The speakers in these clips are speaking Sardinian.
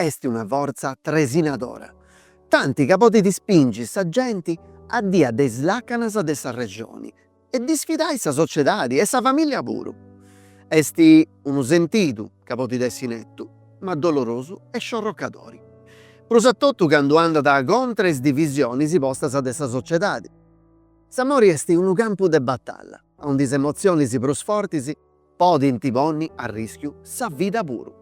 Est una fortza tresinadora, tanti ca podit ispingi sa genti a diai de is làcanas de s'arrexoni e disfidai sa sociedadi e sa famìllia puru. Est unu sentidu ca podit essi netu, ma dolorosu e sciorrocadori, prus a totu candu andat contra is divisionis postas de sa sociedadi. S'amori est unu campu de batalla, aundi is emotzionis prus fortis podint ponni a rìschiu sa vida puru.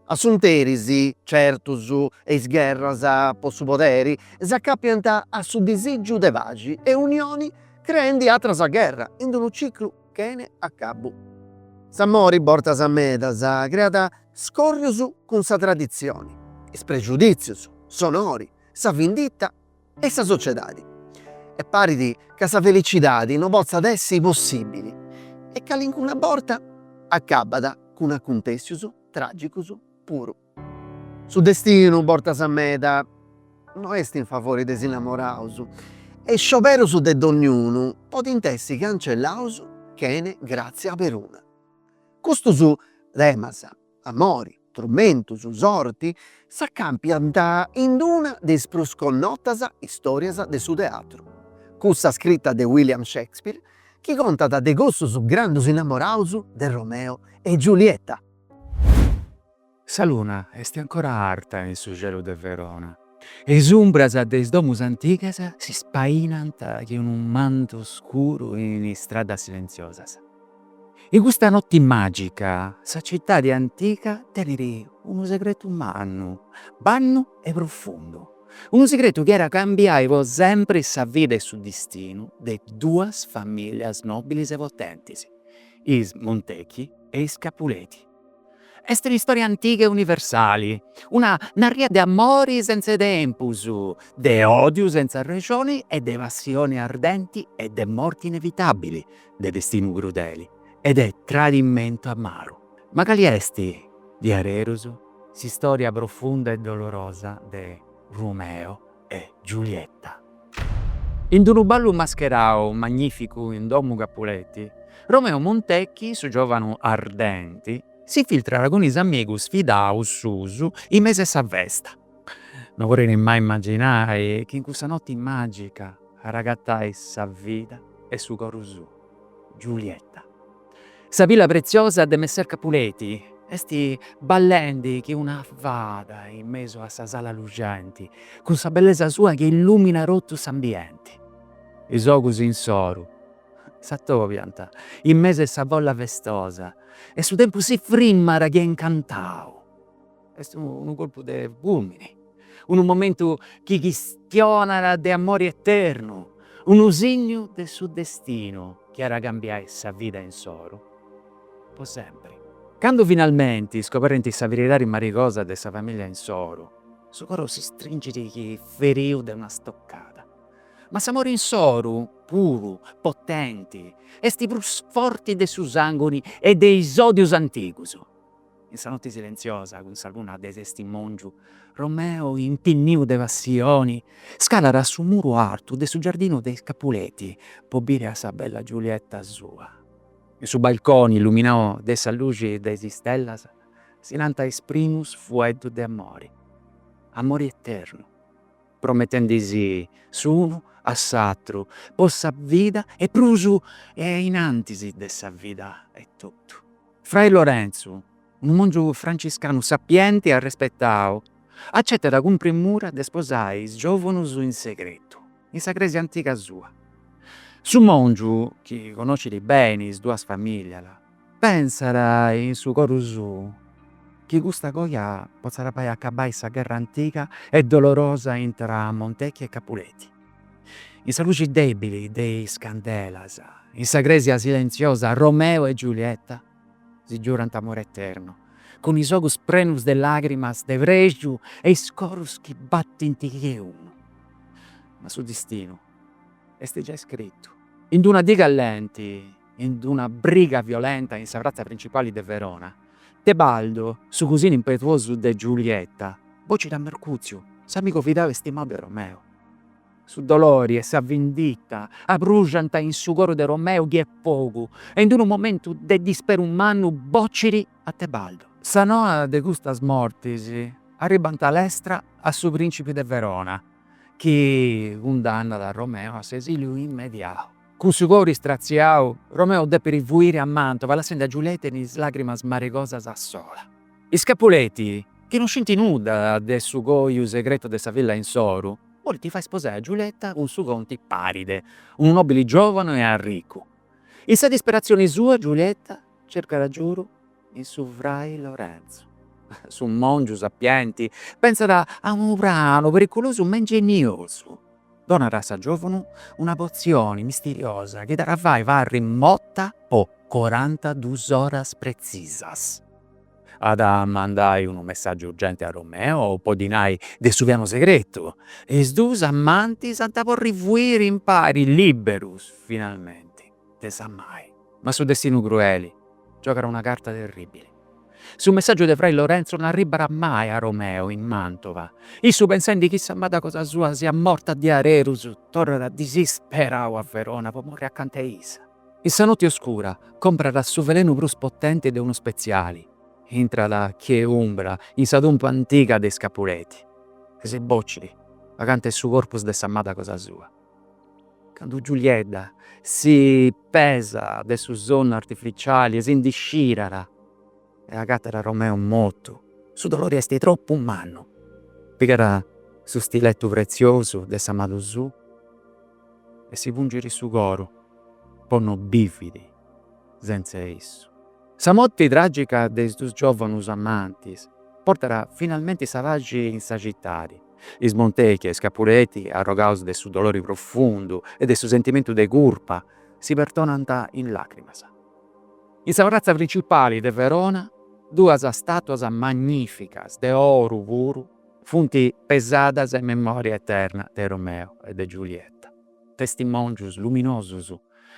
Asunteris, certus, e is gherras po su poderi s'acàpiant a su disìgiu de paxi e unioni creendi àteras gherras in unu ciclu chene acabu. S'amori bortas medas creat scòrrius cun sa traditzioni, is prexudìtzius, s'onori, sa vinditta e sa sociedadi. E parit ca sa felicidadi no potzat essi possibili e calincuna borta acabat cun acuntessius tragicus puru. Su destinu bortas medas no est in favori de s'innamoraus e is scioberus de dognunu podint essi cancellaus chene gratzia peruna. Custus temas, amori, trumentus, sorti, s'acàpiant in una de is prus connotas istòrias de su teatru, cussa scrita de William Shakespeare chi contat de cussus grandus innamoraus de Romeo e Giulietta. Sa luna est ancora arta in su celu de Verona e is umbras de is domus antigas si spainant chi unu mantu scuru in is stradas silenziosas. In custa notti magica sa cittadi antica tenit unu segretu mannu, bannu e profundu, unu segretu chi at a cambiai po sempri sa vida e su distinu de duas familias nobilis e potentis, is Montecchi e is Capuleti. Est un'istoria antiga e universali, una narria de amori senza 'e tempus, de odiu senza arrexoni e de passioni ardenti e de morti inevitabili, de destinu crudeli e de tradimentu amaru. Ma cali est, diaderus, s'istoria profunda e dolorosa de Rumeo? e Giulietta. In unu ballu mascherau magnificu in domu Capuletti, Romeo Montecchi, su giovanu ardenti, s'infiltrat cun is amigus fidaus suus in mesu 'e sa festa. No podit mai imaginai chi in cussa notti magica at a agatai sa vida e su coru suu. Giulietta. Sa filla preziosa de Messer Capuleti est ballendi chi una fada in mesu a sa sala luxenti, cun sa bellesa sua chi illuminat totu s'ambienti. Is ogus insoru s'atobiant in mesu 'e sa folla festosa e su tempus si frimat che incantau. Est unu colpu de fulmini, unu momentu chi chistionat de amori eternu, unu signu de su destinu chi at a cambiai sa vida insoru po sempri. Candu finalmenti scoberint sa veridadi marigosa de sa familia insoru, su coro si stringit chi feriu de una stoccada. Ma s'amori insoru, puru, potenti, est prus forti de su sanguini e de is odius antigus. In sa notti silentziosa, cun sa luna de testimòngiu, Romeo, intinniu de passioni, scalat a su muru artu de su giardinu de is Capuleti po biri a sa bella Giulietta sua. In su balconi illuminau de sa luxi de is istellas si nant is primus fueddus de amori, amori eternu, prometendi si s'unu a s'atru po sa vida e prus ainnantis de sa vida etotu. Frai Lorenzu, unu mòngiu franciscanu sapienti e arrespetau, acetat cun premura de sposai is giòvunus in segretu, in sa crèsia antiga sua. Su mòngiu, chi connoschit beni is duas famìlias, pensat in su coru suu chi custa coja potzat fai acabai sa gherra antiga e dolorosa intra Montecchi e Capuleti. In sa luxi debili de is candelas, in sa cresia silenziosa Romeo e Giulietta si giurant amore eterno, cun is ogus prenus de lagrimas de prexu e is corus chi battint che unu. Ma su distinu est giai scritu. In d'una dì calenti in una briga violenta in sa pratza principali de Verona, Tebaldo, su cusinu impetuosu de Giulietta, bocit a Mercutziu, s'amigu fidau e stimau de Romeu. Su dolori e sa vinditta abrujant in su coru de Romeu che fogu e in unu momentu de disperu mannu bocit a Tebaldo. Sa noa de custas mortis arribant lestra a su principi de Verona chi cundannat a Romeu a s'esiliu immediau. Cun su coru istratziau, Romeo depit fuiri a Mantova lassendi a Giulietta in is làgrimas maregosas a sola. Is Capuleti, chi no scint nudda de su coiu segretu de sa filla insoru, bolint fai sposai a Giulietta cun su conti Paride, unu nòbili giòvanu e arricu. In sa disperatzioni sua Giulietta cercat agiudu in su Frai Lorenzu. Su mòngiu sapienti pentzat a unu pranu periculosu ma ingeniosu, donat a sa giòvunu una potzioni misteriosa chi dda fait parri morta po corantaduas oras pretzisas. At a mandai unu messàgiu urgenti a Romeo po ddi nai de su pianu segretu e is dus amantis ant a porri fuiri impari, lìberus finalmenti. de sa mai. Ma su destinu crueli giogat una carta terribili. Su messaggiu de frai Lorenzo non arribbat mai a Romeo in Mantova. Issu pensendi chi s'amada cosa sua siat morta diarerus torrat disisperau a Verona po morri acanta 'e issa. In sa notti oscura comprat su velenu prus potenti de unu speziali, intrat chie umbra in sa tumpa antiga de is Capuletti e si boccit acanta 'e su corpus de s'amada cosa sua. Candu Giuliedda si pesa de su sonnu artificiali e si ndi scirat e agatat Romeo mortu, su dolori esti troppu mannu. Pigat su stilettu preziosu de s'amadu suu e si pungiri su coru po no bividi. sentz'e issu. Sa morti tragica de is dus giovanus amantis portat finalmenti sa paxi in sa citadi. Is Montecchi e is Capuletti, arrogaus de su dolori profundu e de su sentimentu de curpa, si perdonant in lacrimas. In sa pratza principali de Verona duas statuas magnificas de oru puru funt pesadas in memoria eterna de Romeo e de Giulietta. testimòngius luminosus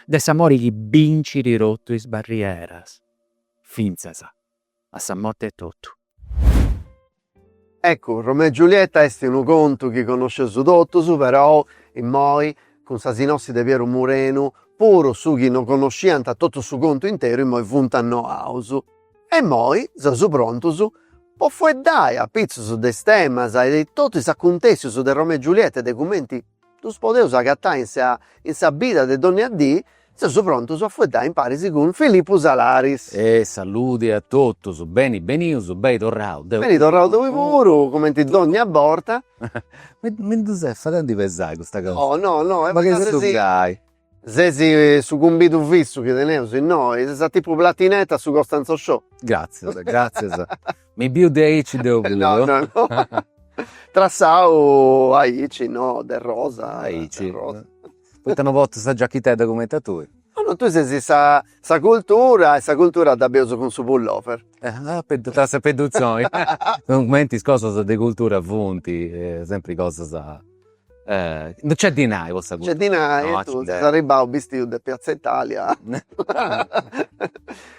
de s'amori chi bincit totu is barrieras, fintzas a sa morti etotu. Eccu, Romeo e Giulietta est unu contu chi connosceus totus, perou, immoi, cun sa sinossi de Pieru Murenu, puru is chi no connosciant totu su contu interu immoi funt annoaus. E immoi seus prontus po fueddai apitzus de is temas e de totu is acuntèssius de Romeo e Giulietta e de cumenti, Ddus podeus agatai in sa in sa bida de dònnia dì, seus prontus a fueddai imparis cun Filippu Salaris. E saludi a totus, beni benius, beni torrau deu puru. Beni torrau tui puru, cumenti dònnia borta. Mi mi ddus est fadendi pesai custa cantzoni. No no no est fadendi. Ma che sucai. Ses su cumbidu fissu chi teneus innoi, ses a tipu Platinette a su Costanzo Show. Gratzias, gratzias. Mi biu de aici deu puru. No, no, no. Trassau aici, no, de rosa. Aici. De rosa. Poita no portu sa giachitedda cumenti a tui? No, no, tui ses sa sa cultura e sa cultura dda bius cun su pullover. Tra sa pedduzoni. Cumenti is cosas de cultura funt sempri cosas. No nc'est dinai po sa cultura. No nc'est dinai e tottu, ses arribbau bistiu de piazza Italia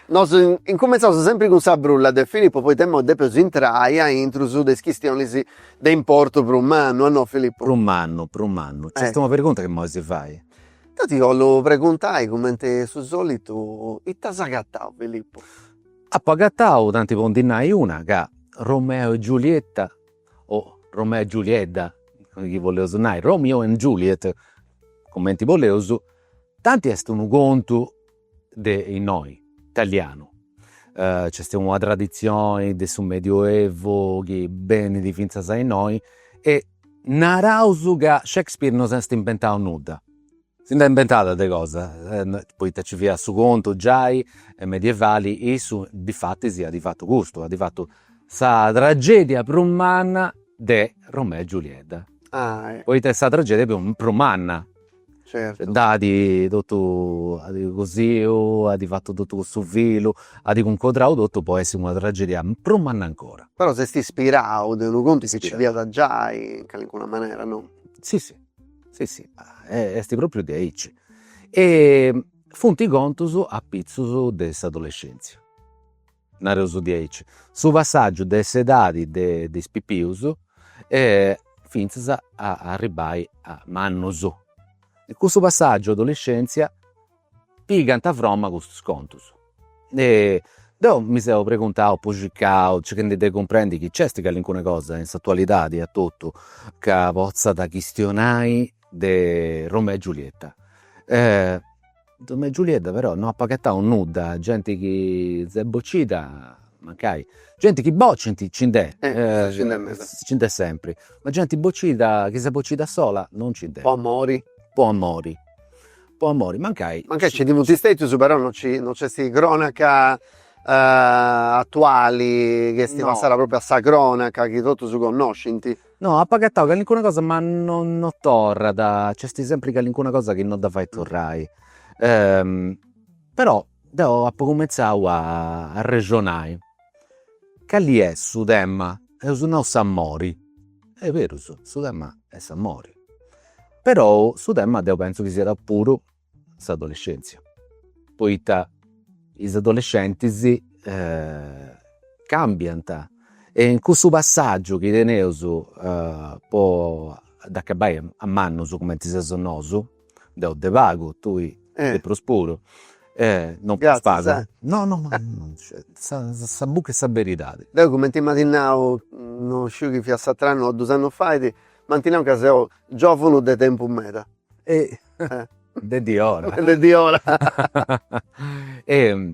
Nosu incumentzeus sempri cun sa brulla de Filippo poita imoi depeus intrai a intrus de is chistionis de importu prus mannu, a no Filippo? Prus mannu, prus mannu. Nc'est una pergunta chi imoi si fait. Deu ti 'ollu preguntai cumenti su solitu, ita as agatau Filippo? Apu agatau, tanti po ndi nai una, ca Romeo e Giulietta o Romeo e Giuliedda, chi boleus nai, Romeo and Juliet, cumenti boleus, tanti est unu contu de innoi, italianu, nc'est una traditzioni de su Medioevu chi benit fintzas a innoi e naraus ca Shakespeare non s'est inventau nudda Si nd'at inventada de cosa, poita nci fiat su contu giai medievali, issu difatis at fatu custu, at fatu sa tragedia prus manna de Romeo e Giuliedda, poita est sa tragedia prus manna, dd'at totu cosiu, at fatu totu cussu filu, at cuncodrau totu po essi una tragedia prus manna ancora. Però s'est ispirau de unu contu chi nci fiat giai in calincuna manera, no? Si si Si si est propriu diaici. E funt contus apitzus de s'adolescèntzia, nareus diaici, su passàgiu de s'edadi de de is pipius fintzas a arribbai a mannus. Cussu passàgiu adolescèntzia Pigant a froma custus contus. E deu mi seu preguntau, puxicau, circhendi de cumprendi chi nc'est calincuna cosa in s'atualidadi a totu ca potzat chistionai de Romeo e Giulietta. Romeo e Giulietta però no apu agatau nudda, genti chi s'est bocida mancai, genti chi bocint nci nd'est, nci nd'est sempri, ma genti bocida, chi s'est bocida sola non nci nd'est. Po amori? Po amori Po amori mancai. Mancai nci funt stètius però no no nc'est crònaca atuali chi est passada pròpriu a sa crònaca chi totus connoscint. No, apu agatau calincuna cosa ma no no torrat, nc'est sempri calincuna cosa chi no dda fait torrai. Però deu apu cumentzau a arrexonai, cali est su tema, eus nau s'amori, est berus su tema est s'amori Però su tema deu pentzu chi siat puru s'adolescèntzia, poita is adolescentis càmbiant e in cussu passàgiu chi teneus po dd'acabai a mannus cumenti seus nosu, deu de pagu, tui de prus puru, non prus pagu, no no ma sa buca 'e sa beridadi. Deu cumenti m'iat nau non sciu chini fiat s'atr'annu o dus annus fait M'ant nau ca seu giòvanu de tempus meda. E de diora. E de diora. E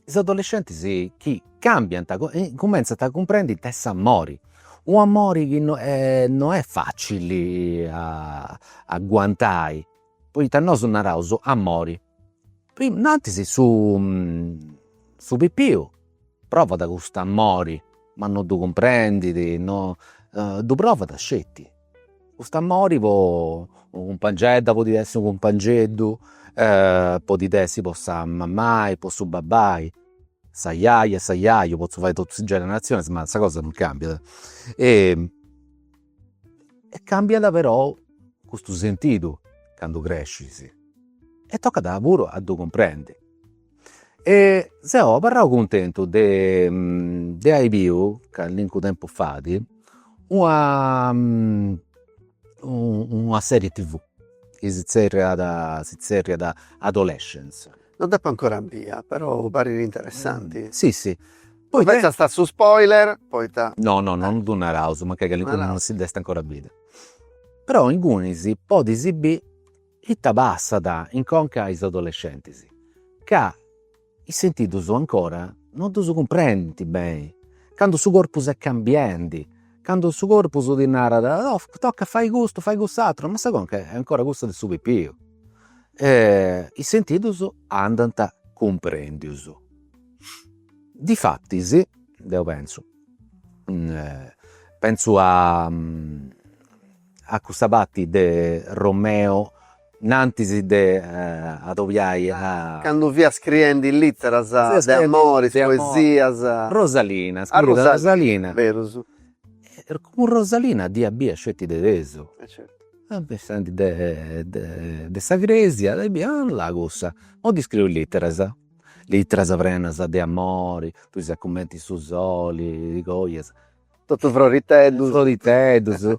is adolescentis chi càmbiant, cumentzant a cumprendi ite est s'amori, u' amori chi no est facili a aguantai Poita nosu naraus amori. Nantis su su pipiu provat custu amori ma no ddu cumprendit, no ddu provat sceti custu amori po unu cumpangedda podit essi unu cumpangeddu, podit essi po sa mamai, po su babbai, s'ajaja, s'ajaju, potzu fai totus is generazionis ma sa cosa non cambiat E cambiat però custu sentidu candu crescis e tocat puru a ddu cumprendi. E seu abarrau cuntentu de de ai biu callincu tempus fait una una serie tv chi si zerriat si zerriat adolescence No dda depu ancora biri, però parit interessanti. Si si. No fetzas su spoiler poita. No no non ddu naraus, mancai calincunu non si dd'est ancora bida. Però ingunis podis bì ita passat in conca a is adolescentis, ca is sentidus ancora non ddus cumprendint beni, candu su corpus est cambiendi Candu su corpus ti narat, oh tocat fai custu fai cuss'àteru, ma sa conca est ancora cussa de su pipiu. Is sentidus andant cumprendius. Difatis, deu pentzu, pentzu a A cussa parti de Romeo nantis de adobiai a. Candu fiat scriendi literas de amori, poesias. Rosalina, scriiat a Rosalina. Berus. Cun Rosalina dd'iat bia sceti de tesu. E certu. Bessendi de sa cresia e bia, ah là cussa, mo ddi scriu is literas. Literas prenas de amori, tui ses cumenti su soli chi coit. Totu froriteddus. Froriteddus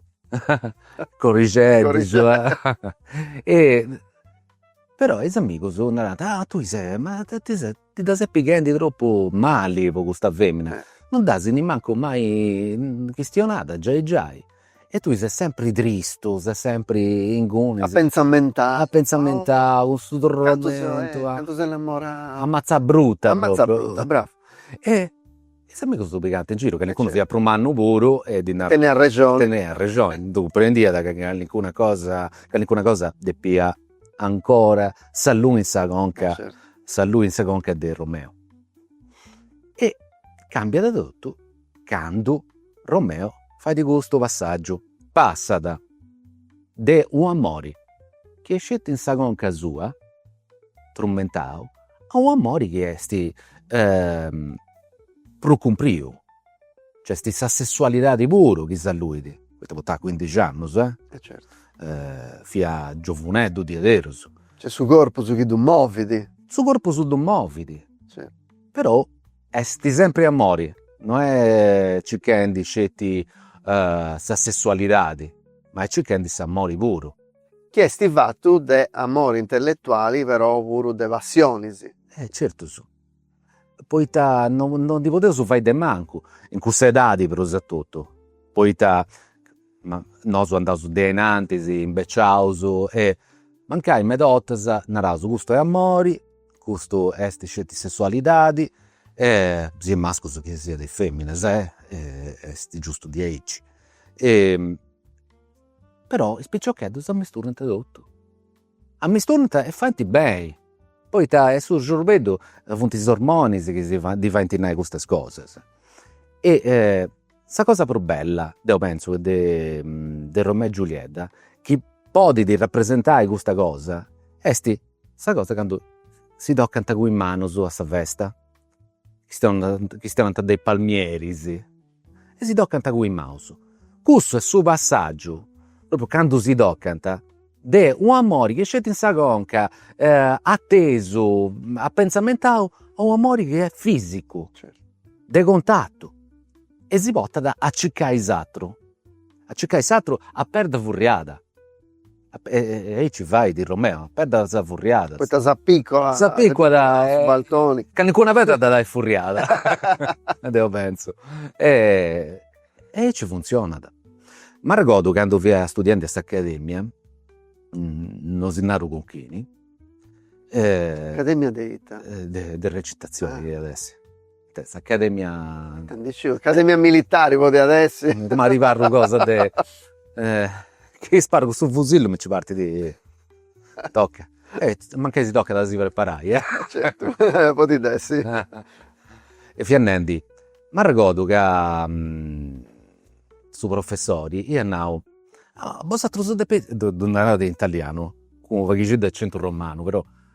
corrixeddus e però is amigus narant, ah tui ses, ma ti ses, ti dda ses pighendi tropu mali po custa femina, non dd'as nimancu mai chistionada giai giai e tui ses sempri tristu, ses sempri inguni. Apentzamentau. Apentzamentau, cun su torramentu. Cantu s'est innamorau. Amatza bruta. Amatza bruta, brava. E Is amigus ddu pigant in giru, calincunu fiat prus mannu puru e ddi narat. Teniat rexoni. Teniat rexoni, ddu cumprendiat ca calincuna cosa, calincuna cosa depiat ancora s'allui in sa conca, s'allui in sa conca de Romeo. E càmbiat totu candu Romeo fait custu passàgiu, passat de u' amori chi est sceti in sa conca sua trumentau a u' amori chi est prus cumpriu, nc'est sa sessualidadi puru chi s'alluit, poita portat cuindixi annus e fiat giovuneddu diaderus. Nc'est su corpus chi ddu movit. Su corpus ddu movit, però est sempri amori, no est circhendi sceti sa sessualidadi, ma est circhendi s'amori puru chi est fattu de amori intelletuali però puru de passioni. E certu, poita no no ndi podeus fai de mancu in cussa edadi prus a totu, poita nosu andaus de ainantis imbeciaus e mancai meda 'ortas naraus custu est amori, custu est sceti sessualidadi e siat mascus chi siat feminas est giustu diaici Però is piciocheddus ammisturant totu. Ammisturant e faint beni, poita est su sorbeddu funt is ormonis chi si ddi faint nai custas cosas. E sa cosa prus bella, deu pentzu, de Romeo e Giuliedda, chi podit rapresentai custa cosa, est sa cosa candu si tocant cun is manus a sa festa chistionant de is palmieris e si tocant cun is manus. Cussu est su passàgiu, propriu candu si tocant, de un'amori chi est sceti in sa conca, atesu, apenzamentau, a un'amori chi est fisicu, de contatu e si portat a circai s'aturu, a circai s'aturu a perda furriada e aici fait Romeo, a peddas furriadas. Poita s'apiculat. S'apiculat in su balconi. Calincuna pedda dd'at ai furriada e deu pentzu e aici funtzionat. M'arregodu candu fia studiendi a s'Academia, non si naru cun chini. Academia de ita? De recitazioni iat essi Eh, s'Academia. Nd'isciu, Academia Militari podiat essi. Coma arribarru cosa de chi sparu custu fusillu mi ci partit toca. Mancai si tocat a si preparai eh. Certu, podit essi. E fiat nendi, m'arregordu ca su professori iat nau, bosatrus depeis, ddu narada in italianu cun unu paghixeddu de accentu romanu però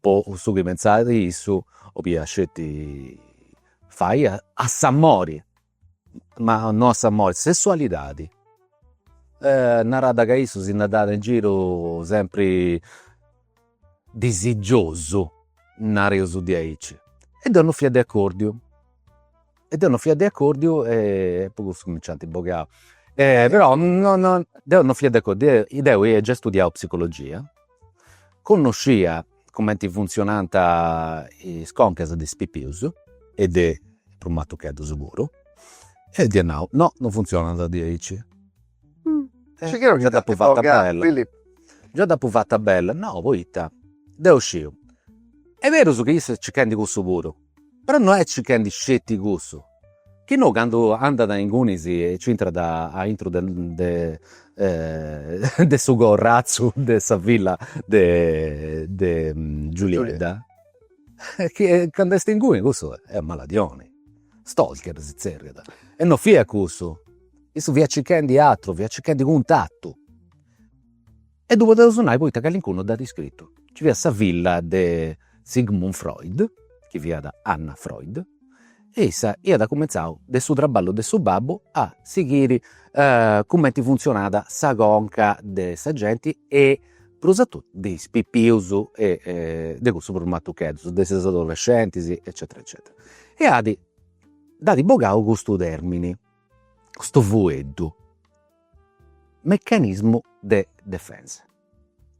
Po su chi pentzat issu, 'oliat sceti fai a s'amori, ma no a s'amori, sessualidadi. Narat ca issu si nd'andàt in giru sempri disigiosu, nareus diaici. E deu non fia de acordiu, e deu non fia de accordiu e po cussu mi nc'ant bogau. Però no no deu non fia de accordiu, deu ia giai studiau psicologia, connoscia cumenti funtzionant is concas de is pipius e de is prumatucheddus puru e dd'ia nau, no non funtzionant diaici. Già dd'apu fata bella, già dd'apu fata bella, no poita deu sciu, est berus chi issa est circhendi cussu puru Però no est circhendi sceti cussu, chi no candu andat a ingunis e nci intrat a intru de de su corratzu de sa villa de de Giuliedda, chi candu est inguni cussu est maladiosu, stalker si zerriat, e no fiat cussu, issu fiat circhendi àteru, fiat circhendi cuntatu E ddu podeus nai poita calincunu dd'at iscritu. Nci fiat sa filla de Sigmund Freud, chi fiat Anna Freud, e issa iat cumentzau de su traballu de su babbu a sighiri cumenti funtzionat sa conca de sa genti e prus a totu de is pipius e de cussus prus matucheddus, de is adolescentis eccetera eccetera. E at, dd'at bogau custu termini custu fueddu, meccanismo de defensa,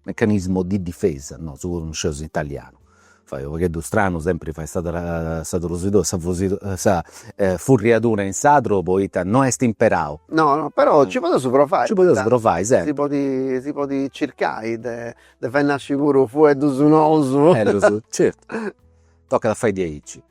meccanismo di difesa, no si preocupeis, non sciu s' italianu, fait unu pagheddu stranu sempri fait sa sa trusidora, sa fusidora, sa furriadura in sardu poita no est imperau. No no però nci podius provai, nci podius provai sempri, si podit si podit circai de de fai nasci puru fueddus nosu, certu tocat a fai diaici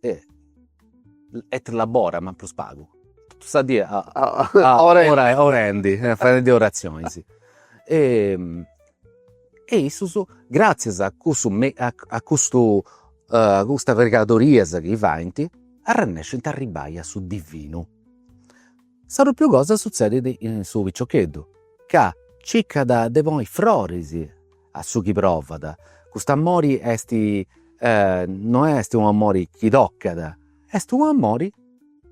e et labora ma prus pagu totu sa die orendi faendi oratzionis e e issus gratzias a cussu a custu a custas pregadorias chi faint arrennescint a arribai a su divinu. Sa pròpriu cosa suzzedit in su piccioccheddu ca circat de ponni froris A su chi provat. Cust'amori est no est unu amori chi tocat, est unu amori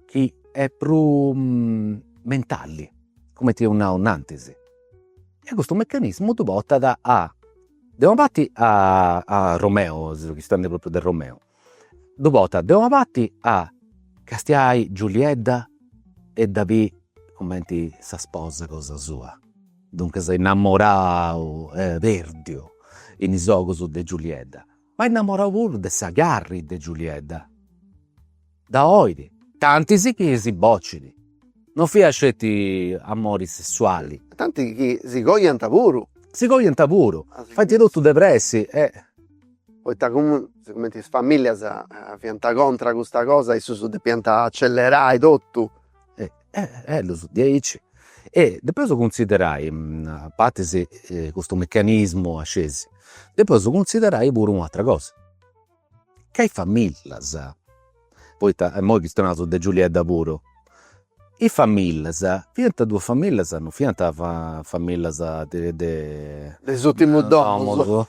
chi est prus mentali, cumenti eus nau innantis. E custu meccanismu ddu portat a, de una parti a Romeo, si seus chistionendi pròpriu de Romeo, Ddu portat de una parti a castiai Giuliedda e dda biri cumenti sa sposa cosa sua, duncas innamorau e perdiu in is ogus de Giuliedda, ma innamorau puru de sa carri de Giuliedda, dda bolit tanti chi si bocit. No fiat sceti amori sessuali. Tanti chi si coiant puru. Si coiant puru. Faint totu de pressi e. Poita sigumenti is familias fiant contra custa cosa e issus depiant accellerai totu. Ellus diaici e depeus cunsiderai a partis custu meccanismu a s'ascesi depeus cunsiderai puru un'atra cosa. ca is famillas, poita imoi chistionaus de Giulieta puru, is famillas fiant duas famillas, non fiant famillas de de de is urtimus domus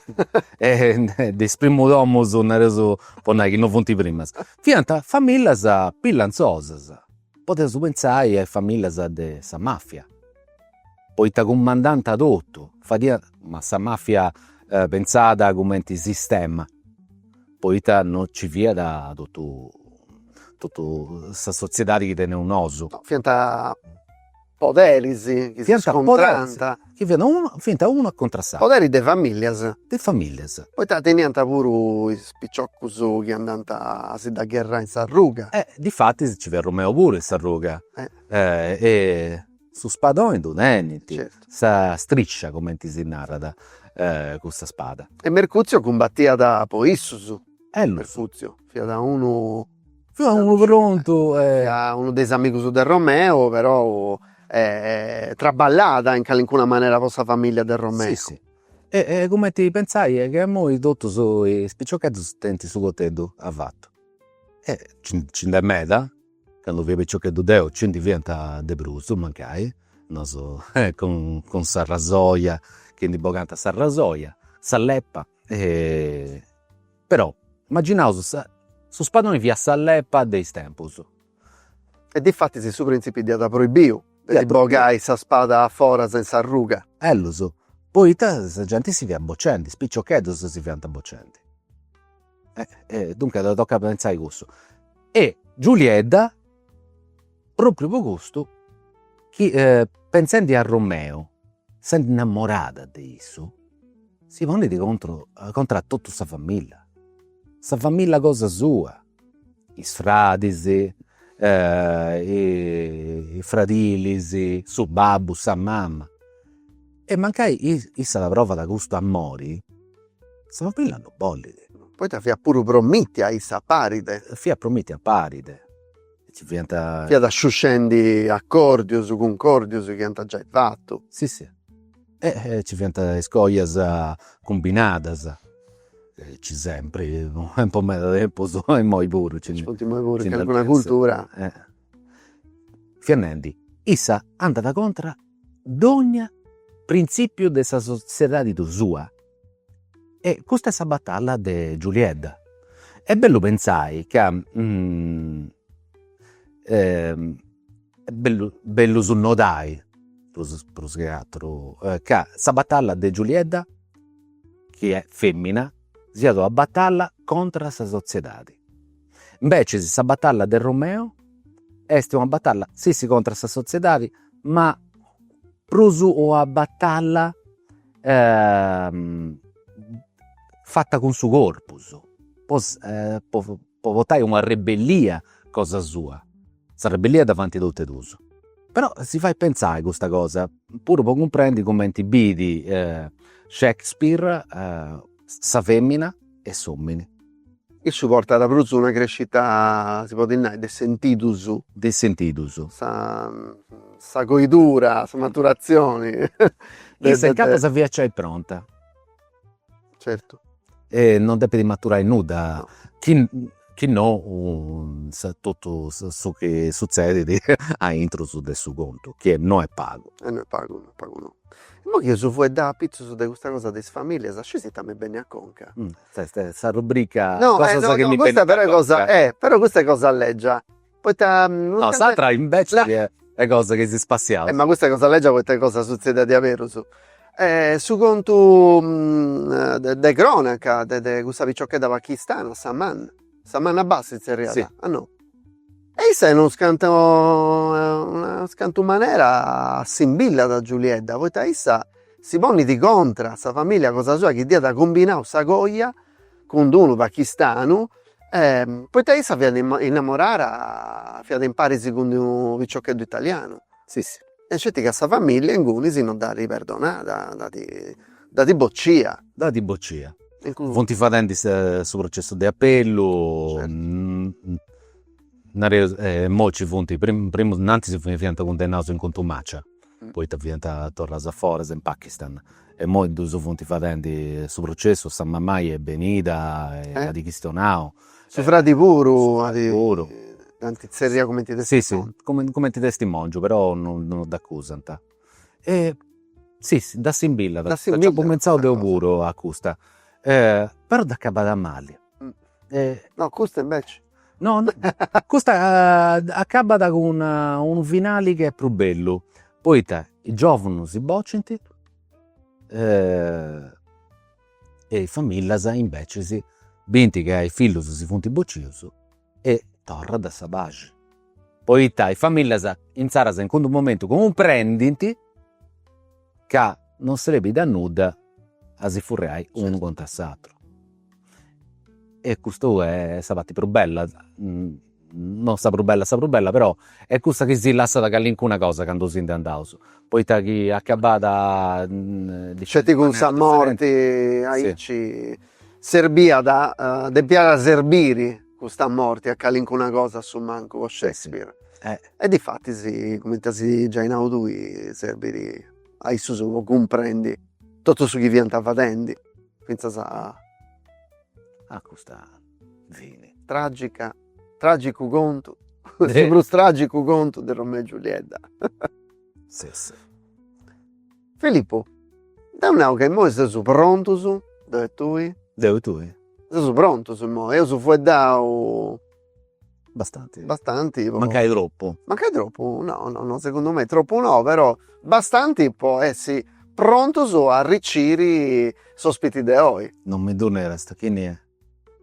de is primus domus, nareus po nai chi non funt primas, fiant famillas pillanzosas, podeus pentzai a is famillas de sa mafia Poita cumandànt a totu, fadiant, ma sa màfia pentzada cumenti sistema, poita no nci fiat totu totu sa sotziedadi chi teneus nosu. No, fiant poderis chi si scontrànt. Chi fiant unu, fiant unu a contra s'ateru. Poderis de famìllias. De famìllias. Poita teniant puru is piciocus chi andànt a si dda gherrai in s'arruga. E difatis nci fiat Romeo puru in s'arruga. E Su spadone ddu tenint, sa striscia cumenti si narat cussa spada. E Mercuzio cumbatiat po issus. Mercuzio fiat unu. Fiat unu prontu e. Fiat unu de is amigus de Romeu, perou traballat in calincuna manera po sa familia de Romeu. Si si e cumenti pentzai chi imoi totus is piciocheddus tenint su coteddu avatu e nci nd'est meda Candu fia piciocheddu deu nci ndi fiant de prus, mancai, nosu cun sa rasoja chi ndi bogant sa rasoja, sa leppa, però imaginaus sa, su spadoni fiat sa leppa de is tempus. E difatis su printzipi dd'iat proibiu de ddi bogai sa spada a foras in s'arruga. Ellus, poita sa genti si fiat bocendi, is piciocheddus si fiant bocendi. Eh, duncas tocat a pentzai cussu. E Giuliedda, propriu po custu, chi pentzendi a Romeu sendi innamorada de issu, si ponit contru contra a totu sa familla, sa familla cosa sua, is fradis is fradilis, su babbu, sa mama. E mancai issa provat custu amori Sa famìlia no bollit. Poita fiat puru promitia issa a Paride. Fiat promitia a Paride. Ci fiant. Fiat sciuscendi accordius, cuncòrdius chi ant giai fatu. Si si. E ci fiant is coias cumbinadas. Ci sempri, e po meda tempus, e imoi puru. Ci funt imoi puru, calincuna cultura. Fiat nendi, issa andat contra. dogna printzìpiu de sa sotziedadi sua. E custa est sa batalla de Giuliedda. Est bellu pentzai ca est bellu su nodai prus prus che aturu ca sa batalla de Giuliedda chi est femmina siat una batalla contra sa sotziedadi Imbeces sa batalla de Romeo est una batalla si si contra sa sotziedadi ma prus una batalla fata cun su corpus po po portai una rebellia cosa sua, sa rebellia dda faint totu e duus. Però si fait pentzai custa cosa puru po cumprendi cumenti biit Shakespeare sa femmina e s'omini. Issu portat prus una crescita, si podit nai, de sentidus. De sentidus. Sa sa coidura, sa maturatzioni. Issa incapas fiat giai pronta. Certu. E non depit maturai nudda. Chi chi no totu su chi sutzedit aintru de su contu, chi no est pagu. E no est pagu, no est pagu no. Imoi chi eus fueddau apitzus de custa cosa de is familias, scis ita mi benit a conca. Sa rubrica cosas chi mi benint a conca. No, no, custa però est cosa, però custa est cosa legia Poita no. S'atra invece chi e cosa chi si spassiat. Ma custa cosa leggia poita e cosa suzzedia diaberus. Su contu de cronaca de de custa picciocchedda pachistana, Saman, Saman Abbas si zerriat? Si. Ah no. E issa in unu scantu in una scantu manera assimbillat a Giuliedda poita issa si ponit contra sa familia cosa sua chi dd'iat cumbinau sa coja cun d-unu pachistanu e poita issa fiat innamorara fiat imparis cun d-unu piciocheddu italianu, si si, e sceti ca sa familia inguni si non dd'at perdonada, dd'at dd'at boccia. Dd'at boccia. Funt fadendi su processu de apellu, nareus, e imoi nci funt, primu, innantis fiant cundennaus in contumacia Poita fiant torraus a foras in Pakistan e imoi ddus funt fadendi su processu, sa mamai est benida e at chistionau. Su fradi puru at dd'ant tzerriau cumenti testimongiu. Cumenti testimongiu però no dd'acusant. E si ddi assimbillat, dd'apu pentzau deu puru a custa. Però dd'acabat mali. No custa inveci. No custa acabat cun unu finali chi est prus bellu, poita is giòvunus si bocint e is famillas imbecis bint ca is fillus si funt bocius e torrat sa paxi, poita is famillas insaras in cuddu momentu cumprendint ca non serbit a nudda a si furriai unu contra s'àteru e custu est sa parti prus bella, non sa prus bella sa prus bella però est cussa chi si lassat callincuna cosa candu si ndi andaus, poita chi acabàt sceti cun sa morti aici serbiat, depiat serbiri custa morti a callincuna cosa a su mancu po Shakespeare e difatis cumenti as giai nau tui serbit a issus po cumprendi totu su chi fiant fadendi fintzas a a custa fini. Tragica tragicu contu su prus tragicu contu de Romeo e Giuliedda si si. Filippo, deu nau ca immoi seus prontus, deu e tui. Deu e tui. Seus prontus immoi, eus fueddau Bastanti. Bastanti po. Mancai troppu. Mancai troppu no no no segundu me troppu no però bastanti po essi prontus a arriciri s'òspiti de oi. Non mi ddu nerist, chini est?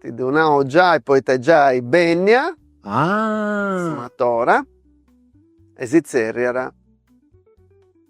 Ti ddu nau giai poita est giai bènnia s'amatora e si tzerriat.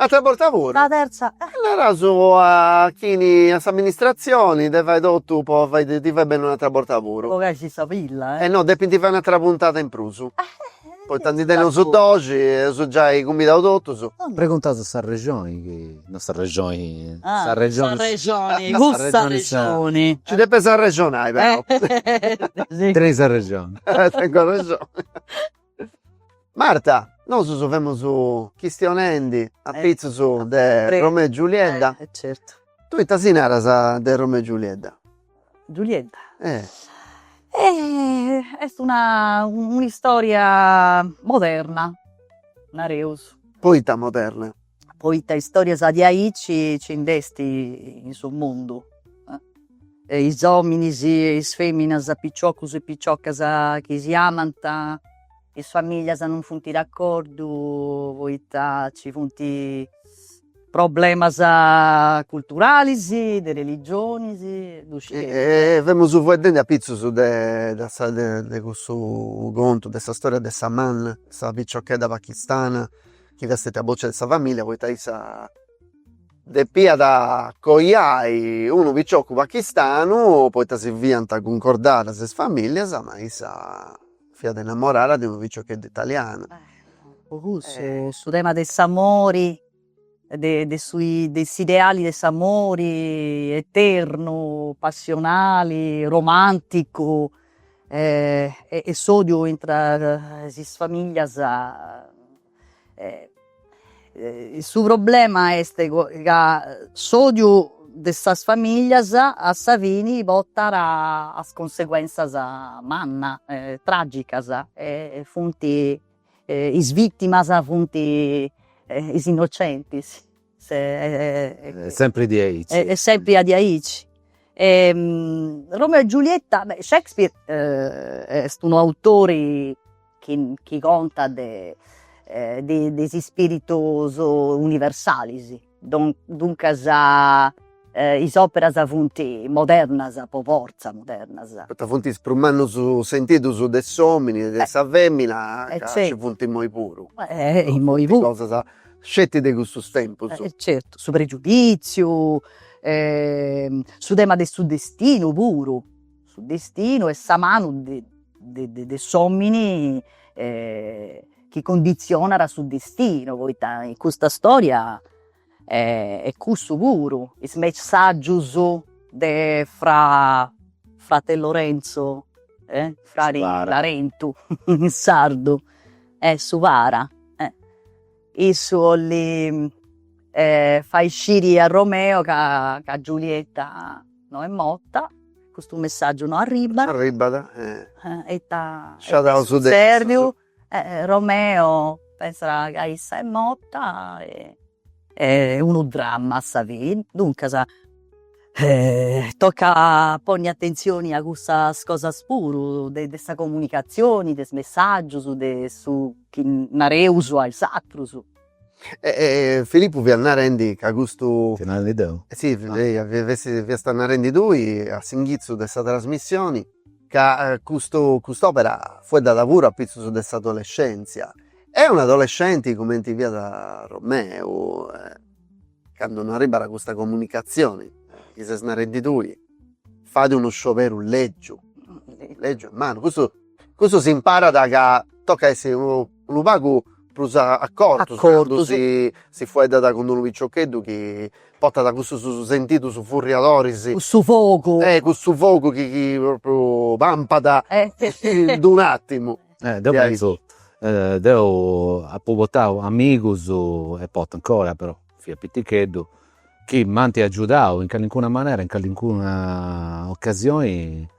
S'attera borta puru. Sa terza est. Naraus a chini a s'amministratzioni de fai totu po fai ti fai benni un'attera borta puru. Po caixi sa pilla e. E no depinti fai un'attera puntada in prusu. Poita ndi teneus doxi e eus giai cumbidau totus. Preguntas sa rexoni chi no sa rexoni Ah sa rexoni. Sa rexoni cussa sa rexoni. Ci depes arrexonai però. Tenis arrexoni. Tengu arrexoni. Marta nosusu femus chistionendi apitzusu de Romeo e Giuliedda e certu tui ita si naras de Romeo e Giuliedda? Giuliedda est una un'istoria moderna nareus. Poita moderna? poita istorias diaici ci nd'est in su mundu e is ominis e is feminas piciocus e piciocas chi si amant is familias non funt d'accordu poita ci funt problemas culturalis de religionis ddu scieis. E femus fueddendi apitzus de de cussu contu de sa storia de Saman, sa piciochedda pakistana chi est stètia boccia de sa familia poita issa depiat coiai unu picioccu pachistanu poita si fiant cuncordadas is familias ma issa fiat innamorada de unu piciocheddu italianu. Po cussu su tema de s'amori de de su de s'ideali de s'amori eternu, passionali, romanticu e s'odiu intra is familias su problema est ca s'odiu de is familias a sa fini portat a cunseguenzias mannas e tragicas e funt is vitimas funt is innocentis Est sempri diaici. Est sempri stètiu diaici. E Romeo e Giulietta, beh, Shakespeare est unu autori chi chi contat de de de is ispiritus universalis, duncas Is òperas funt modernas, po fortza modernas. Poita funt is prus mannus sentidus de s'òmini e de sa fèmina, ca nci funt imoi puru. Imoi puru. Funt cosas sceti de custus tempus. Certu, su pregiudìtziu, su tema de su destinu puru, su destinu e sa manu de de de s'òmini chi conditzionat su destinu, poita in custa stòria e cussu puru is messaggius de fra frate Lorenzo e frari Larentu in sardu e su para issu 'olli fai sciri a Romeo ca ca Giulietta no est morta custu messaggiu no arribbat arribbat e ita e ita est sutzediu Romeo pensat ca issa est morta, est unu dramma a sa fini, duncas tocat a ponni atentzioni a cussas cosas puru de de sa comunicatzioni, de is messàgius, de su chi nareus a is atrus E e Filippu fiat narendi ca custu. Fio narendi deu? Si, eia, fiast narendi tui a s'inghitzu de sa trasmissioni ca custu cust'opera fueddat puru a pitzus de s'adolescentzia. E un'adolescenti cumenti fiat Romeu, candu no arribbat custa comunicazioni chi ses narendi tui, fadi unu scioberu legiu, legiu e mannu, custu. Cussu s'imparat ca tocat a essi unu pagu prus acordus cando si fueddat cun unu piciocheddu chi portat cussus sentidus furriadoris, cussu fogu, cussu fogu chi propriu pampat in unu attimu. Deu pentzu, deu apu portau amigus e portu ancora però fia piticheddu chi m'ant agiudau in calincuna manera in calincuna occasioni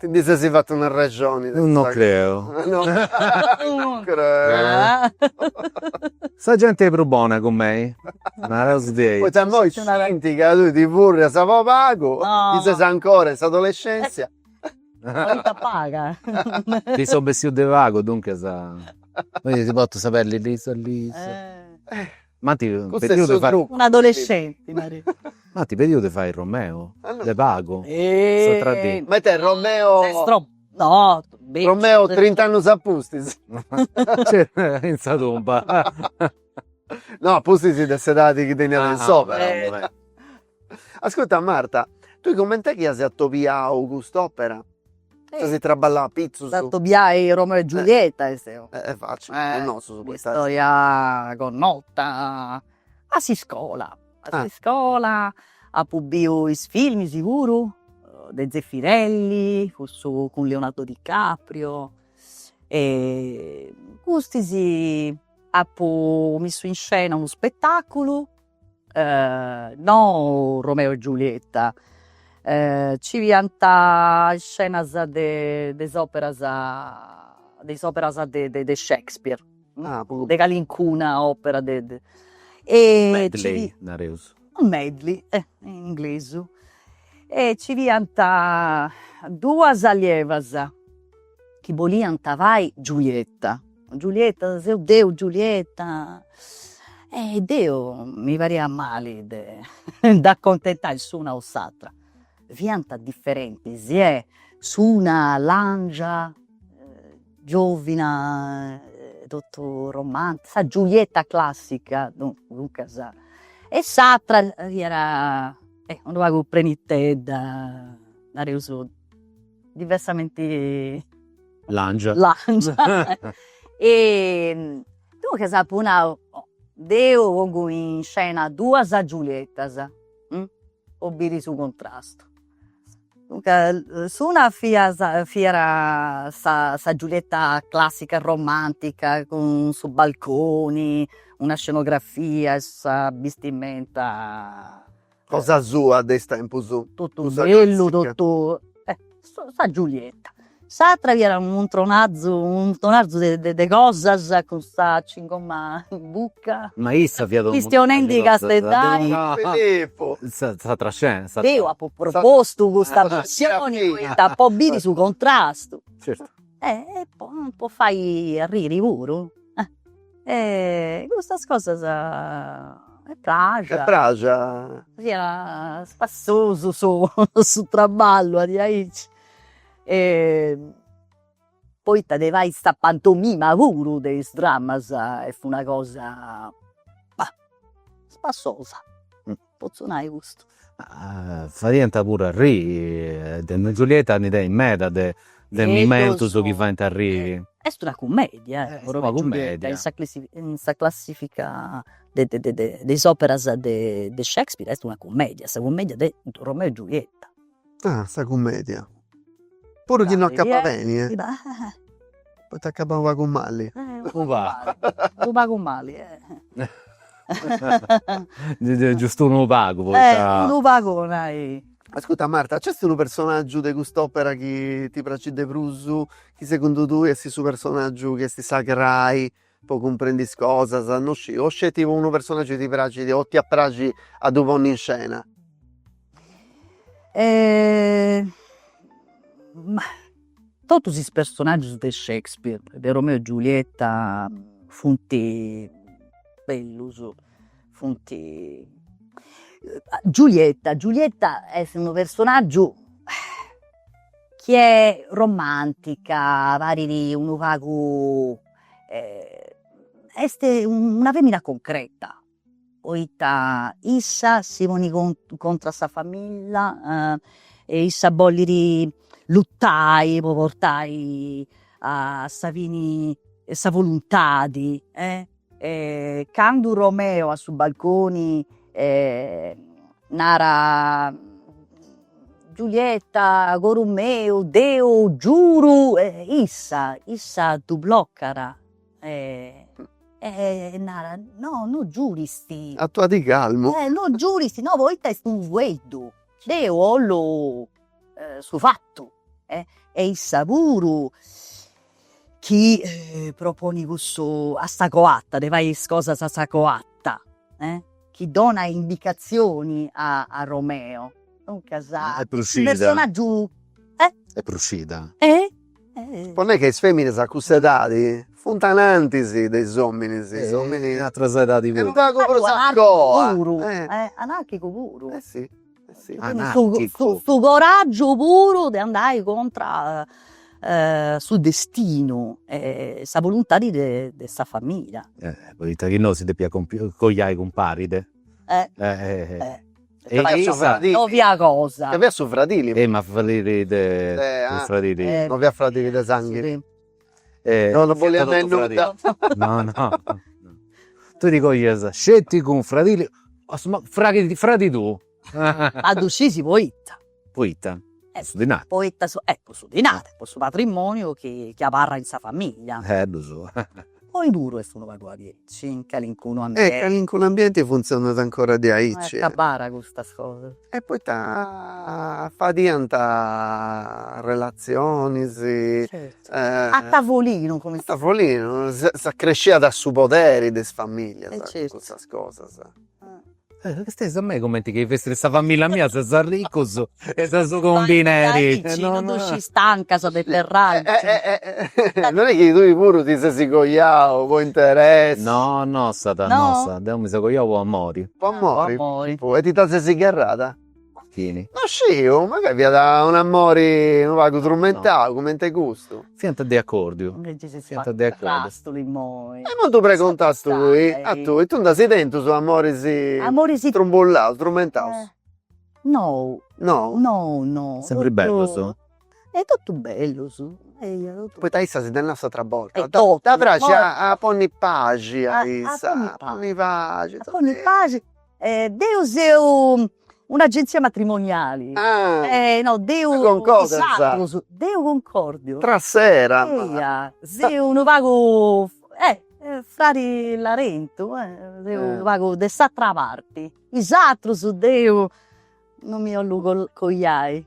Ti ndi sesi fatu una rexoni de. No creo. No creo. Sa genti est prus bona cun mei? Naraus dei. Poita immoi scintint ca tui ti furrias po pagu, chi ses ancora in s'adolescèntzia. Poita paga. Nci seu bessiu de pagu, duncas. Oi si portu sa peddi lisa lisa. M'ant pediu de fai. Un'adolescenti nareus. M'ant pediu de fai Romeo de pagu. S'atra dì. Ma ite est Romeo. Ses tropu. No. Romeo trint'annus a pustis. In sa tumba. No a pustis de s'edadi chi teniat in s'opera. Ascurta Marta, tui cumenti dd'as atobiada cust'opera? Nci as traballau apitzus? Sa atobiai Romeo e Giulietta est eo. Est facili, po nosu poita est. Un'istoria connota a s'iscola, a s'iscola apu biu is filmis puru de Zeffirelli, cussu cun Leonardo Di Caprio e custis apu missu in scena unu spettaculu no Romeo e Giulietta, nci fiant iscenas de de is operas de is operas de de de Shakespeare ah puru, de calincuna opera de de medley nareus, medley e in inglesu e ci fiant duas allievas chi boliant fai Giulietta Giulietta, seu deu Giulietta, e deu mi pariat mali de nd'accontentai s'una o s'atra, fiant differentis e s'una làngia giòvina totu romantica, sa Giulietta classica duncas, e s'atra fiat unu pagu prenitedda, nareus diversamenti làngia e duncas apu nau, deu pongu in scena duas Giuliettas po biri su cuntrastu, duncas s'una fiat fiat sa sa Giulietta classica romantica cun su balconi, una scenografia e sa bistimenta Cosa sua de is tempus. Totu bellu totu e sa Giulietta. S'atra fiat unu muntronazu muntronazu de de cosas cun sa cingoma in bucca. Ma issa fiat chistionendi casteddaiu. S'atra scena s'atra. Deu apu propostu custa versioni poita po biri su contrastu. Certu. E po po fai arriri puru E custas cosas praxiant. E praxiant. Fiat spassosu su su traballu de aici e poita de fai sa pantomima puru de is dramas est una cosa bah spassosa potzu nai custu. Fadiant puru arriri, Romeo e Giulietta ndi tenit meda de de momentus chi faint arriri. Est una cummedia eh, Romeo e Giulietta, in sa in sa classifica de de de de is operas de de Shakespeare est una cummedia, sa cummedia de Romeo e Giulietta Ah sa cummedia. Puru chi no acabat beni eh. Poita acabat unu pagu mali. Unu pagu. Unu pagu mali eh. Giustu unu pagu poita. Unu pagu po nai. Ascurta Marta, nc'est unu personaggiu de cust'opera chi ti praxit de prus, chi segundu tui est su personaggiu chi est sa crai Po cumprendi is cosas, no sciu. O sceti po unu personaggiu ti praxit o ti iat a praxi a ddu ponni in scena? Ma totus is personaggius de Shakespeare, de Romeo e Giulietta, funt bellus, funt. Giulietta, Giulietta est unu personaggiu chi est romantica, parit unu pagu est una femina concreta, poita issa si ponit con- contra a sa famillia e issa bollit lutai po portai a sa fini sa voluntadi e candu Romeo a su balconi Nara Giulietta coru meu deu giuru e issa issa ddu blocat e e nara no no giurist. Aturadì calmu. E no giurist no poita est unu fueddu deu 'ollu su fatu e issa puru chi proponit cussu a sa coatta, de fai is cosas a sa coatta, chi donat indicazionis a a Romeo, duncas su personaggiu est prus scida. Po nai ca is feminas a cussa edadi funt anantis de is ominis, is ominis in atras edadis puru. Anarchicu puru, anarchicu puru. anarchicu. Su coraggiu puru de andai contra su destinu e sa boluntadi de de sa familia. Poita chi no si depiat coiai cumpari de e no fiat cosa. Nc'aviat su fradili. E ma fradili de su fradili. No fiat fradili de sanghi. No no boliat nai nudda. No no tui ti coias sceti cun fradili o su fradi fradi tuu. Ma ddu scis poita. Poita, po su dinari. Poita su po su dinari, po su patrimoniu chi chi abarra in sa famiglia. Eh ddu so. Oi puru est unu pagu aici. Sì, in calincunu ambienti. In calincunu ambienti funtzionat ancora diaici. Est abbara custas cosas. E poita fadiant relatzionis. Certu. A tavolinu cumenti. A tavolinu, s'accresciat su poderi de is familias. E certu. Cun custas cosas. Castias a mei cumenti chi fessit sa familia mia ses arricus e ses u combineri. Non nd'usci is tancas de terra. Non est chi tui puru ti ses coiau po interessu. No, nossada, nossada, deu mi seu coiau po amori. Po amori? Po amori. E ti dda ses gherrada? Chini? No sciu, mancai fiat un'amori unu pagu trumentau cumenti custu. Fiant de acordiu. Invecias is fiant de acordiu. imoi. E imoi ddu pregontu a tui, a tui, tui nd'as tentus amoris amoris trumbullaus, trumentaus? No. No? No no. Sempri bellus? e totu bellus eia totu. Poita issa si dd'at nau s'atra borta. Ddi praxit a ponni paxi a issa. A ponni paxi. A ponni paxi e deu seu un'agenzia matrimoniali. No deu. Concordas. Is atrus, deu concordu. Tra sera. Eia seu unu pagu Frari Larentu seu unu pagu de s'atra parti. Is atrus deu non mi 'ollu coiai.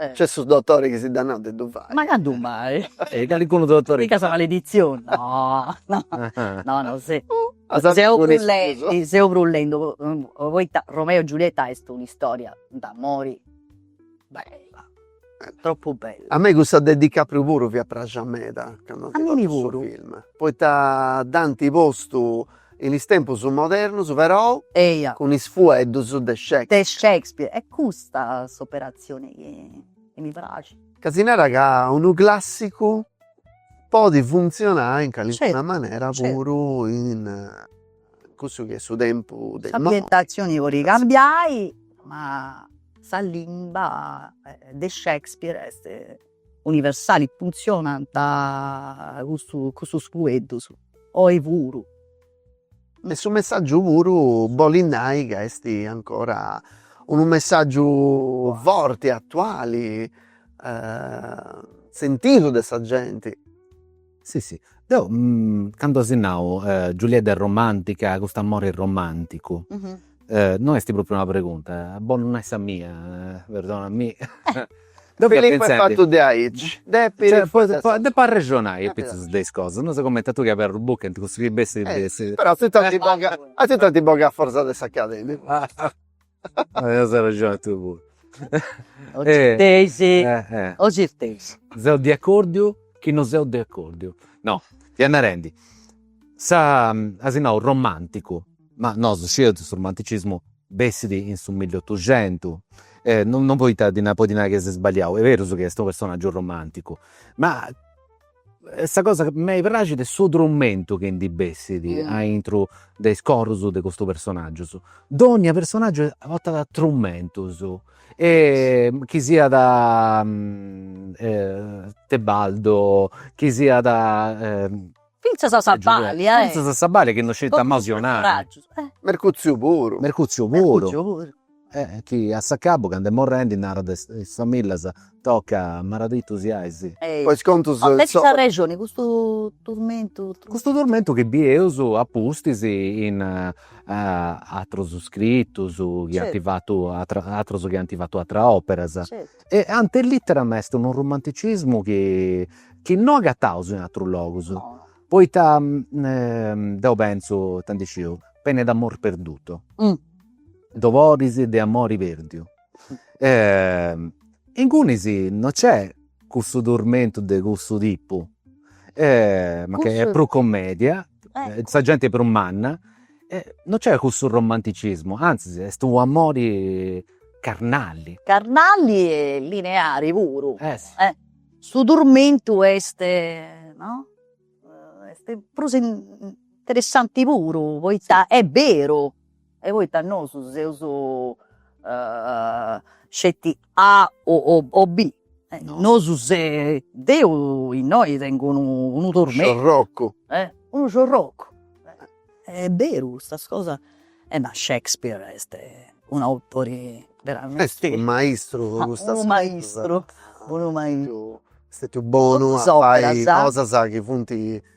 Nc'est su dotore chi si dd'at nau de ddu fai. Ma candu mai? E calicunu dotore. Mica sa maleditzioni, no no no no seu seu brullendu poita Romeo e Giulietta est un'istoria d'amori bella, tropu bella. A mei cussa de Di Caprio puru fiat praxia meda cando nci fut su film, poita dd'ant postu In is tempus modernos perou. Eia. Cun is fueddus de Shakespeare. De Shakespeare. Est custa s'operatzioni chi mi praxit. Ca si narat ca unu clàssicu podit funtzionai in calincuna manera puru in cussu chi est su tempus de imoi. S'ambientatzioni podit cambiai ma sa limba de Shakespeare est. universali funtzionant cussu cussus fueddus oi puru. E su messaggiu puru bolit nai ca est ancora unu messaggiu forti, attuali sentidu de sa genti. Si si, deu candu si nau Giulietta est romantica, cust'amori est romanticu, no esti propriu una pregunta, est bonu nai sa mia, perdonami. Deu fia pentzendi. Filippo est fatu de aici, depit. Cioè deu depu arrexonai apizus de is cosas, no seu comenti a tui chi aberis buca e cussu chi bessit. Però a totu ant boga, a totu ant boga a forza de s'academicu. As arrexoni tui puru. Seu de acordiu chi no seu de acordiu. No, fia narendi, sa, as nau, romanticu, ma nosu scideus chi su romanticismu bessit in su milliotuxentu, no, no poita, potzu nai chi siat sballiau, est berus chi est unu personaggiu romanticu, ma Sa cosa chi mei praxit est su trumentu chi ndi bessit aintru de is corus de custus personaggius. Dònnia personaggiu portat trumentus e chi siat Tebaldo, chi siat fintzas a sa balia, fintzas a sa balia chi non scit a mencionai. Mercuzziu puru. Mercuzziu puru. e chi a s'acabu cando est morrendi narat de is famillas toca maradittus siais. Po is contus suus. Tenis arrexoni custu turmentu. Custu turmentu chi bieus a pustis in atrus scritus chi ant fatu atrus atrus chi ant fatu atras operas. E ante litteram est unu romanticismu chi chi no agataus in atrus logus. Poita deu pentzu, ita ndi sciu, Pene d'amor perduto. doloris de amori perdiu ingunis non c'è cussu turmentu de cussu tipu ma nc'est prus commedia sa genti prus manna e non c'è cussu romanticismu anzis est un' amori carnali carnali e lineari puru e su turmentu est no est prus interessanti puru poita est beru E poita nosu seus sceti A o B. Nosu se, deu innoi tengu unu unu tormentu. Unu sciorrocu. E unu sciorrocu, e est beru custas cosas, e ma Shakespeare est un'autori veramenti. Est unu maistru de custas cosas. Unu maistru, unu maistru. Est stetiu bonu a fai cosas chi funt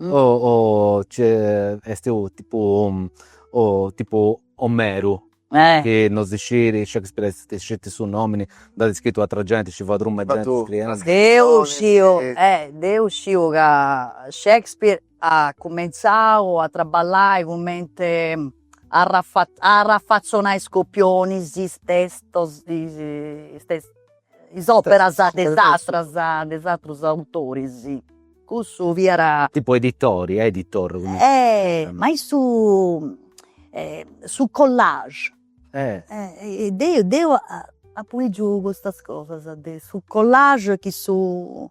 o nc'est su tipu tipu Omeru chi non si scit Shakespeare est sceti su nomini nd'at iscritu atra genti ci fiat truma 'e genti iscriendi deu sciu eh deu sciu ca Shakespeare at cumentzau a traballai cumenti arrafa arrafatzonai is copionis is testos is tes is operas de is atras de is atrus autoris cussu fiat tipu editori editor e ma in su su collage e deu deu apu lìgiu custas cosas de su collage chi su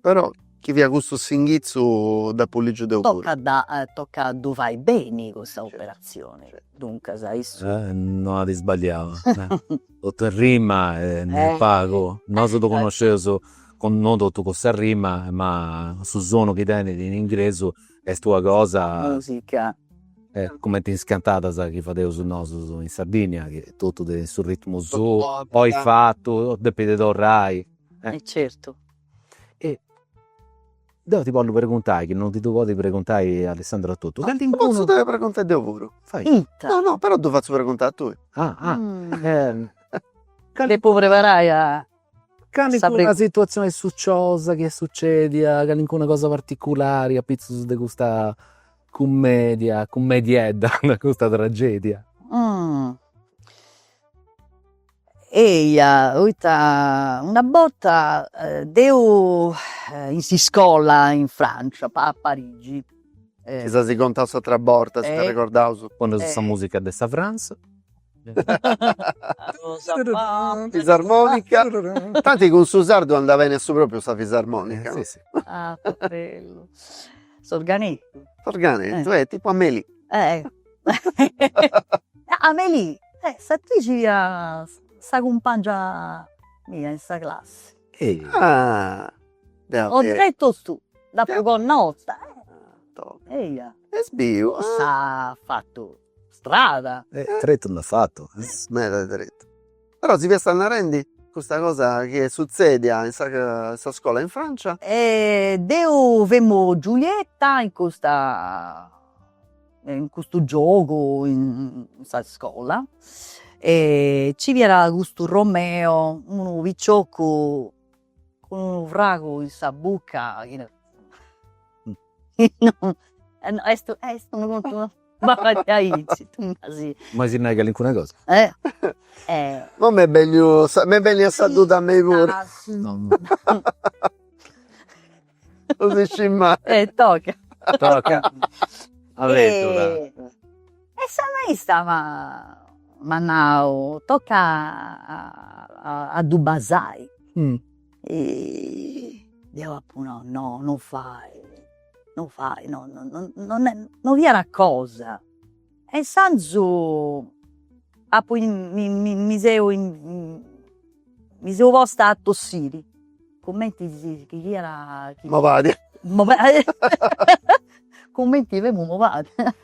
Però chi fiat cussu s'inghitzu dd'apu lìgiu deu puru. Tocat a tocat a ddu fai beni custa operatzioni, duncas issu. No at isbagliau, totu est rima e non pagu, nosu ddu connosceus cun non totu custa rima ma su sonu chi tenit in ingresu est una cosa. Musica. Cumenti is cantadas chi fadeus nosus in Sardigna chi totu tenit su ritmu suu, poi fatu, depit torrai. Certu. e deu ti potzu preguntai chi non ti ddu podit preguntai Alessandro etotu, calincunu. Ddu potzu preguntai deu puru. Fai. Ita. No no, però ddu fatzu preguntai a tui. Ah ah. Depu preparai a sa. Calincuna situatzioni suciosa chi est sucedia, calincuna cosa particulari apitzus de custa cummedia, cummediedda, de custa tragedia. Eia poita una borta deu in s'iscola in Francia a Parigi. Chi si as contau s'atera borta si t'arregordas. Poneus sa musica de sa Frantza. Fisarmonica. Tanti cun su sardu anda beni a su propriu sa fisarmonica. Si si. S'organetu. S'organetu, tipu Amélie. Amelì, eh! S'atrici fia sa cumpangia mia in sa classi. Ah! Oggettos tu, d'apo connota. Eia! Est biu! S'at fatu strada. Tretu nd'at fatu. Meda tretu. Però si fiat narendi custa cosa chi est sutzedia in sa in sa scola in Francia. Deu femu Giulietta in custa in custu giogu in sa iscola e ci fiat custu Romeo unu picioccu cun unu fragu in sa bucca chi no est est unu contu no b'at fagher aici tu mi as. Mai si nai calincuna cosa. No m'est benniu, m'est bennia sa duda a mei puru Non si scit mai. E toca. Toca. Avventura. E sa maista m'at nau, toca a ddu basai. Deu apu nau, no, non fai, non fai, no no no fiat cosa E insandus apo mi seu mi seu posta a tossiri cumenti si chi fiat chi malàdia malàdia cumenti femu malàdia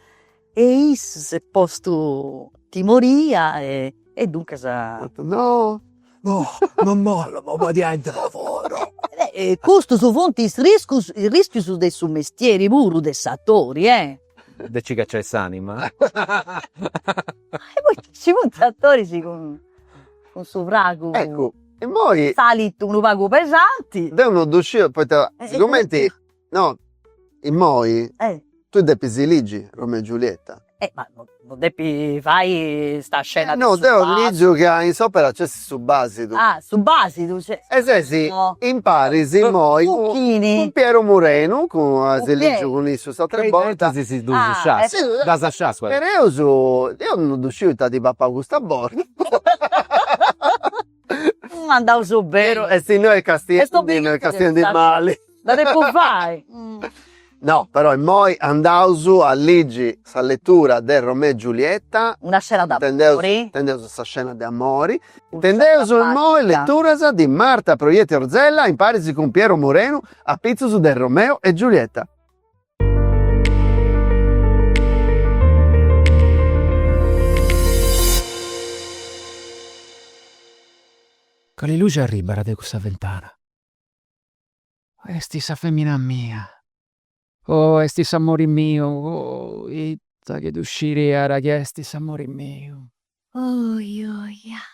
e issu s'est postu timoria e e duncas at no no non bollu m'amaladiai deu puru e custus funt is riscus is rischius de su mestieri puru de s'atori e De nci cacciai s'anima. E poi ci funt attoris cun cun su fragu. Eccu, immoi. Salit unu pagu pesanti. Deu non ddu sciu poita sigumenti, no, immoi. Eh. Tui depis ligi come e Giulietta. Eh ma No depi fai sa scena. No deu ligiu ca in s'opera nc'est su basidu. Ah su basidu cioè. E sesi imparis immoi cun Piero Murenu ca si ligiu cun issu s'atera borta. Chi si ddus sciascat, ddas sciascat. Pereus deu no ddu sciu ita at papau custa borta. M'at dadu su beru. E si no est castigu est dobigu e castigu ndi b'alit. Dda depu fai. No però immoi andaus a ligi sa letura de Romeo e Giulietta. Una scena d'amori. Intendeus sa scena de amori. Intendeus immoi leturas di Marta Proietti Orzella imparis cun Piero Morenu apitzus de Romeo e Giulietta. Cali luxi arribara de cussa fentana? Oh esti sa femina mia, oh esti s'amori miu, oh ita chi ddu sciriada chi esti s'amori miu. Oi oi ah.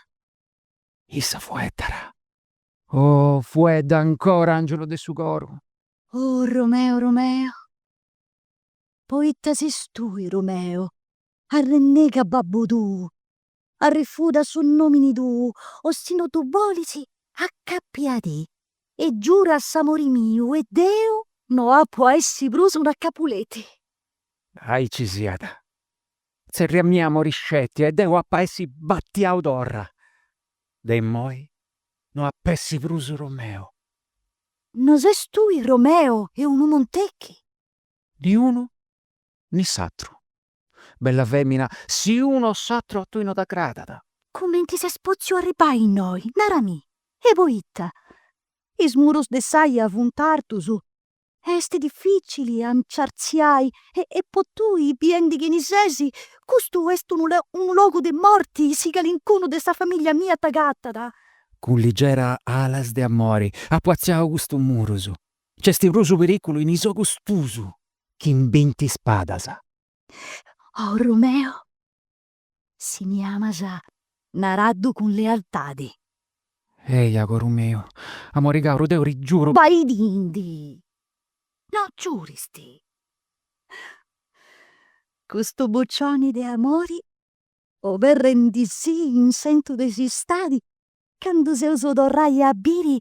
Issa fueddara, oh fuedda ancora angiulu de su coru, Oh Romeo Romeo poita ses tui Romeo arrennega babbu tuu arrefuda su nomini tuu o si no du bolis acappiadì e giura a s'amori miu e deu no apu a essi prus una Capuleti. Aici siat tzerriamì amori sceti e deu apu a essi battiau torra de immoi no ap'essi prus Romeo No ses tui Romeo e unu Montecchi? Ni unu ni s'atru. Bella femina, si unu o s'atru a tui no t'agradat. Cumenti ses potziu arribbai innoi, narami, e poita is murus de s'aia funt artus e est dificili a nci artziai e po tui, biendi chini ses, custu est unu logu de morti, si calincunu de sa famiglia mia t'agatat, Cun ligera alas de amori apu atziau custu murus, c'est prus su periculu in is ogus tuus chi in binti spadas. Oh Romeo, si mi amas, naraddu cun lealtadi. Eia, coru miu, amori caru, deu ti giuru. Baidindi, no giuristi, custu bucioni de amori oberrendisì in sentu de s'istadi candu s'eus a torrai a biri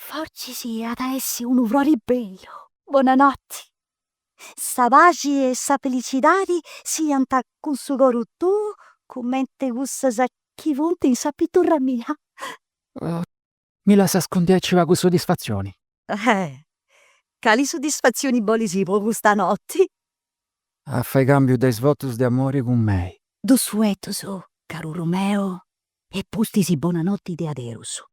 fortzis at a essi unu frori bellu. Bonanoti. Sa paxi e sa felicidadi siant cun su coru tuu cumenti cussas chi funt in sa piturra mia. Mi lassas cun diaici pagu sodisfatzioni. Eh! Cali sodisfatzioni bolis po custa noti? A fai cambiu de is votus de amori cun mei. Duus fueddus, caru Romeo, e pustis bona noti de aderus.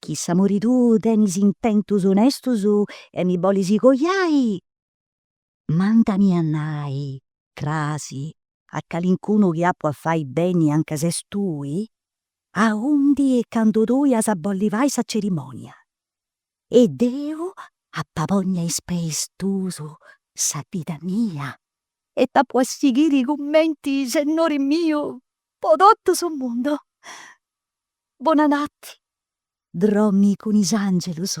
Chi s'amori tuu tenit intentus onestus e mi bolis coiai, Mandami a nai, crasi, a calincunu chi apu a fai beni anca ses tui, aundi e candu tui as a bolli fai sa cerimònia, e deu apu a ponni a is peis tuus sa vida mia, e t'apu a sighiri cumenti sennori miu po totu su mundu. Bonanoti, drommi cun is àngelus.